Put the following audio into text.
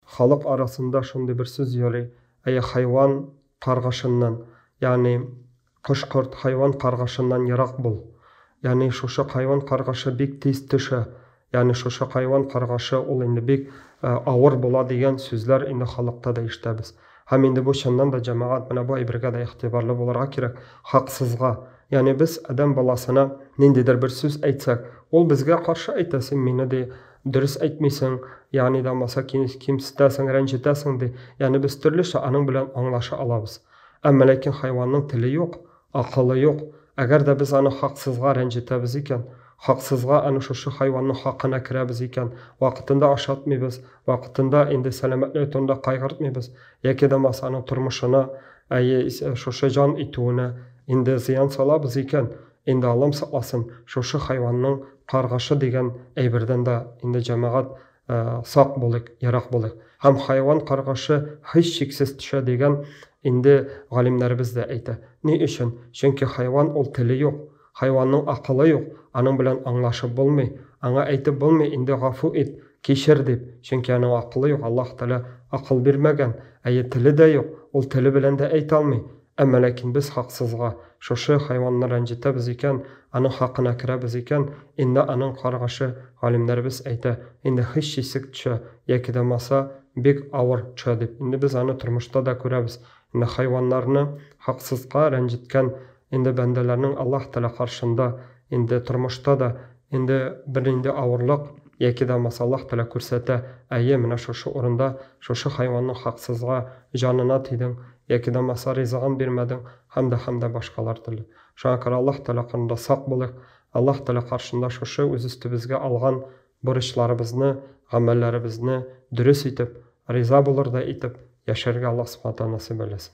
Халык арасында шундый бер сүз йөри, Әйе, хайван каргышыннан, ягъни кош-корт, хайван каргышыннан ерак бул. Ягъни шушы хайван каргышы бик тиз төшә, ягъни шушы хайван каргышы ул инде бик авыр була дигән сүзләр инде халыкта да ишетәбез. Һәм инде бу чыннан да җәмәгать менә бу әйбергә дә игътибарлы булырга кирәк, хаксызга, ягъни без адәм баласына ниндидер бер сүз әйтсәк, ул безгә каршы әйтә, син мине ди, дөрес әйтмисең, ягъни да булмаса кимсетәсең, рәнҗетәсең ди. Ягъни без төрлечә аның белән аңлаша алабыз. Әмма ләкин хайванның теле юк, акылы юк. Әгәр дә без аны хаксызга рәнҗетәбез икән, хаксызга аны шушы хайванның хакына керәбез икән, вакытында ашатмыйбыз, вакытында инде сәламәтлеге турында кайгыртмыйбыз, яки да булмаса аның тормышына, әйе, шушы җан итүенә инде зыян салабыз икән, Инде алым сакласын, шушы хайванның каргышы дигән әйбердән дә инде җәмәгать сак булыйк, ерак булыйк. Һәм хайван каргышы һичшиксез төшә дигән инде галимнәребез дә әйтә. Ни өчен? Чөнки хайван ул теле юк, хайванның акылы юк, аның белән аңлашып булмый, аңа әйтеп булмый инде гафу ит, кичер дип, чөнки аның акылы юк, Аллаһ Тәгалә акыл бирмәгән, әйе теле дә юк, ул теле белән дә әйтә алмый, Әмма ләкин без хаксызга шушы хайванны рәнҗетәбез икән, аның хакына керәбез икән, инде аның каргышы, галимнәребез әйтә, инде һичшисек төшә, яки дә маса, бик авыр төшә дип. Инде без аны тормышта да күрәбез. Инде хайваннарны хаксызга рәнҗеткән инде бәндәләрнең Аллаһ Тәгалә каршында инде тормышта да Инде бернинди авырлык яки да масаллах теләк күрсәтә, әйе, менә шушы урында шушы хайванның хаксызга җанына тидең, яки да маса ризыгын бирмәдең һәм дә һәм дә башкалар төрле. Шуңа күрә Аллаһ Тәгалә карында сак булыйк, Аллаһ Тәгалә каршында шушы үз өстебезгә алган бурычларыбызны, гамәлләребезне дөрес итеп, риза булырдай итеп яшәргә Аллаһ Субхана Тәгалә насыйп әйләсен.